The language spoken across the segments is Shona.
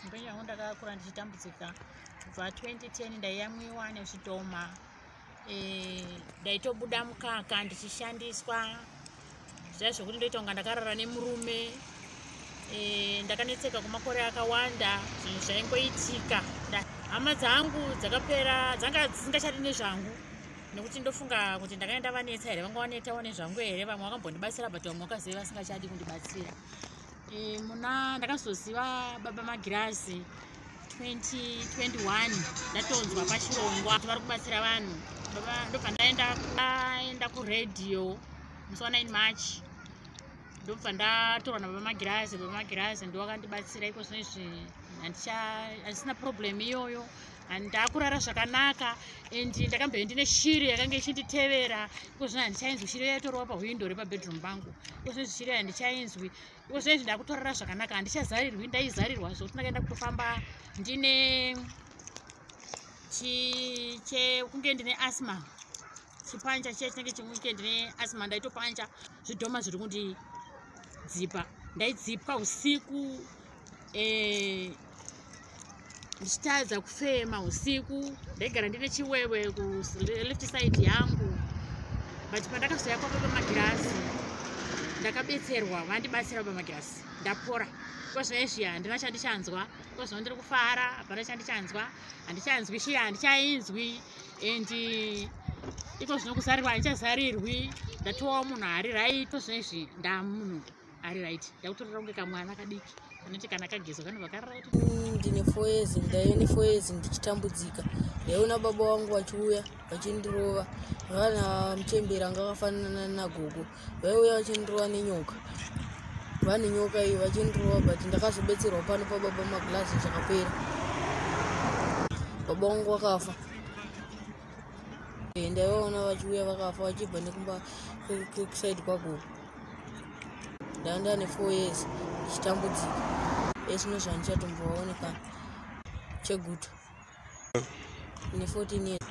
mbeyangu ndakakura ndichitambudzika kubva 2010 ndaiyamwiwa nezvidhoma e, ndaitobuda mukaka ndichishandiswa zviya zvekuti ndoita kunga ndakarara nemurume e, ndakanetseka kwemakore akawanda zvinhu zvaingoitika hama dzangu dzakapera dzanga dzisingachati nezvangu nekuti ndofunga kuti ndakaenda vanetsa here vanga vanetawo nezvangu here vamwe vakambondibatsira but vamwe vakaziva vasingachadi kundibatsira e, muna ndakazoziva baba magirazi 2021 ndatonzwa pachirongwa kuti vari kubatsira vanhu ndobva ndaenda kuradio musi wa 9 march ndobva ndatorwa nababa magirazi baba magirazi ndowakandibatsira iko zvino izvi handisina problem iyoyo and ndakurara zvakanaka and ndakambove ndine shiri yakange ichinditevera ikozvino handichainzwi shiri yaitorowa pahwindo repabedroom pangu ikozvinozvi shiri handichainzwi ikozvinozvi ndakutorara zvakanaka handichazarirwi ndaizarirwa zvokuti ndakaenda kutofamba ndine chikunge ndine asma chipancha chiya chinenge chemuweekend neasma ndaitopancha zvidhoma zviri kundidzipa ndaidzipwa usiku eh, ndichitadza kufema usiku ndaigara ndine chiwewe kuleft side yangu but pandakazoya kwako pamagirasi ndakabetserwa vandibatsira pamagirasi ndapora kozvinoizviya handina chandichanzwa kozvino ndiri kufara hapana chandichanzwa handichanzwi shiya handichainzwi and eh, iko zvino kuzarirwa handichazarirwi ndatovawo munhu ari raito zvino izvi ndamunhu ari right ndakutorera kunge kamwana kadiki anoti kana kagezwa kanobva kariraiti mm, ndine four years ndaive nefour years ndichitambudzika ndaiona baba wangu vachiuya vachindirova vana muchembera anga akafanana nagogo vaiuya vachindirova nenyoka vane nyoka iyi vachindirova but ndakazobetserwa pano pababa maglazi zvakapera baba wangu wakafa eh, ndaivaona vachiuya vakafa vachibva nekumba kusaidi kwagogo ndanga ndane four years ndichitambudzika esino zvandichatombovaonekana cheguta ne 14 years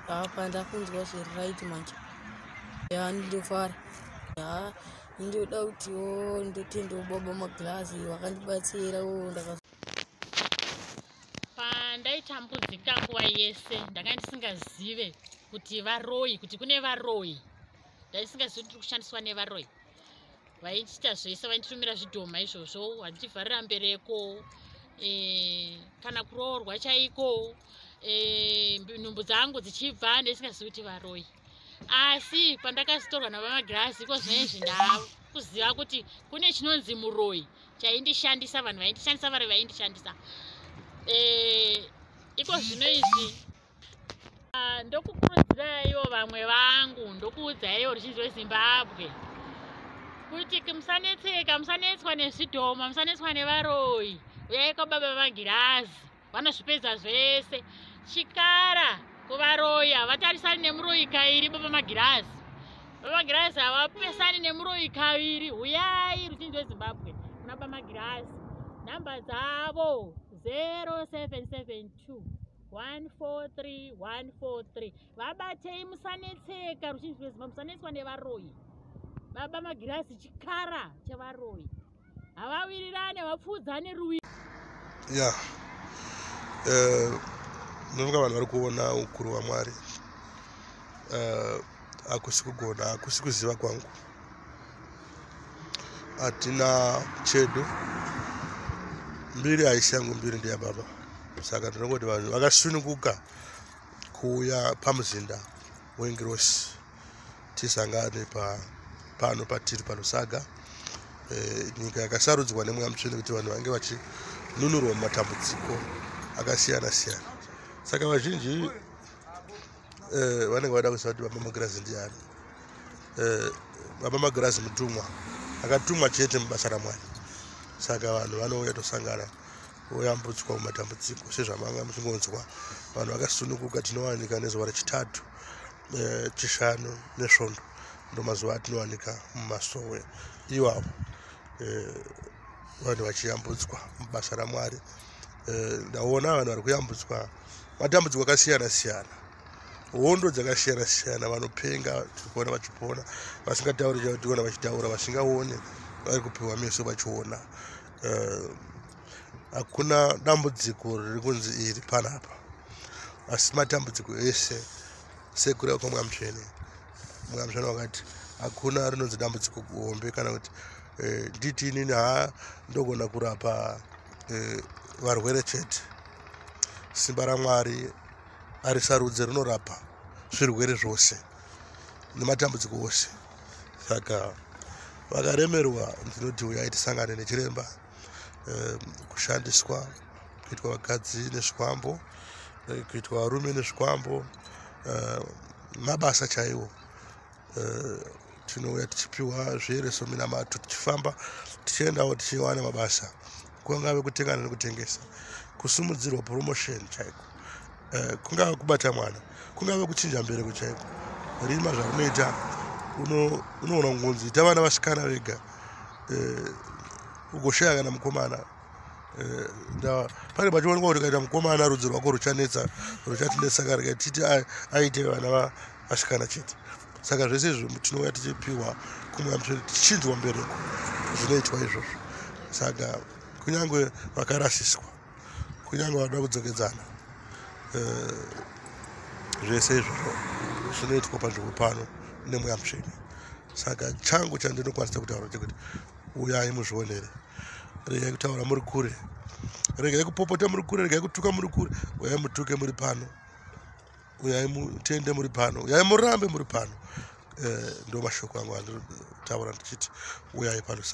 apa ndakunzwa zviri right manje ya ndofara ya ndoda kuti o ndotenda ubaba maglazi wakandibatsira o ndaka pandaitambudzika nguva yese ndanga ndisingazive kuti varoyi kuti kune varoyi ndaisingazivi kuti tiri kushandiswa nevaroyi vaitiita zvese vainditumira zvidhoma izvozvo vandichivharira mbereko eh, kana kuroorwa chaiko eh, nhumbu dzangu dzichibva ndisingazivi kuti varoyi asi pandakazitorwa navamagirazi iko zvinoizvi ndava kuziva kuti kune chinonzi muroyi chaindishandisa vanhu vaindishandisa vari vaindishandisa eh, iko zvino izvi Ah, ndokukuudzaiwo vamwe vangu ndokuudzaiwo ruzhinji rwezimbabwe kuti musanetseka musanetswa nezvidhoma musanetswa nevaroyi uyai kwababa vagirazi vanozvipedza zvese chikara kuvaroyi havatarisani nemuroyi kairi baba magirazi baba magirazi havapesani nemuroyi kaviri uyai ruzhinji rwezimbabwe kuna baba magirazi nhamba dzavo 0772 143 143 vabatei musanetseka ruzhinji rwezimba musanetswa nevaroyi baba magirazi chikara chevaroyi havawirirane vapfuudzane ruwi ya eh, ndofunga vanhu vari kuona ukuru hwamwari eh, hakusi kugona hakusi kuziva kwangu hatina chedu mbiri haisi yangu mbiri ndiya baba saka tinongoti vanhu vakasununguka kuuya pamuzinda wengirosi tisangane pa pano patiri panosaga e, eh, nyika yakasarudzwa nemweya mutsvene kuti vanhu vange vachinunurwa mumatambudziko akasiyana siyana saka vazhinji eh, vanenge vada kuziva kuti baba magirazi ndiani eh, baba magirazi mutumwa akatumwa chete mubasa ramwari saka vanhu vanouya tosangana oyambutswa mumatambudziko sezvamanga muchingonzwa vanhu vakasunukuka tinowanika nezuva rechitatu eh, chishanu nesvondo ndomazuva atinowanika mumasowe iwawo eh, vanhu vachiyambutswa mubasa ramwari eh, ndaona vanhu vari kuyambutswa matambudziko akasiyana siyana hondo dzakasiyana siyana vanopenga tikuona vachipona vasingatauri chationa vachitaura vasingaone vari kupiwa meso vachiona eh, hakuna dambudziko riri kunzi iri panapa asi matambudziko ese sekura kwa mwamutsvene mwamutsvene wakati hakuna rinonzi dambudziko hombe kana kuti eh, nditi inini ha ndogona kurapa eh, varwere chete simba ramwari arisarudze rinorapa zvirwere zvose nematambudziko ose saka vakaremerwa ndinoti uyai tisangane nechiremba ehm, kushandiswa kuitwa vakadzi nezvikwambo eh, kuitwa varume nezvikwambo ehm, mabasa chaiwo eh, tinouya tichipiwa zviere sominamato tichifamba tichiendawo tichiwana mabasa kungave kutengana nekutengesa kusimudzirwa promotion chaiko eh, kungave kubata mwana kungave kuchinja mbereko chaiko rima zvakunoita unoona kungonzi ita vana vasikana vega eh, ugoshaya kana mukomana eh, pane pachionekwa kuti kaita mukomana rudzi rwako ruchanetsa ruchatinetsa karika titi aite vana asikana chete saka zvese izvo tinouya tichipiwa kumwe amsvere tichinzwa mbereko zvinoitwa izvozvo saka kunyange vakarasiswa kunyange vada kudzokedzana eh, zvese izvozvo zvinoitwa panzvimbo pano nemweya mutsvene saka changu chandinokwanisa kutaura chekuti uyai muzvionere regai kutaura muri kure regai kupopota muri kure regai kutuka muri kure uyai mutuke muri pano uyai mutende muri pano uyai murambe muri pano eh, ndo mashoko angu anditaura ndichiti uyai pano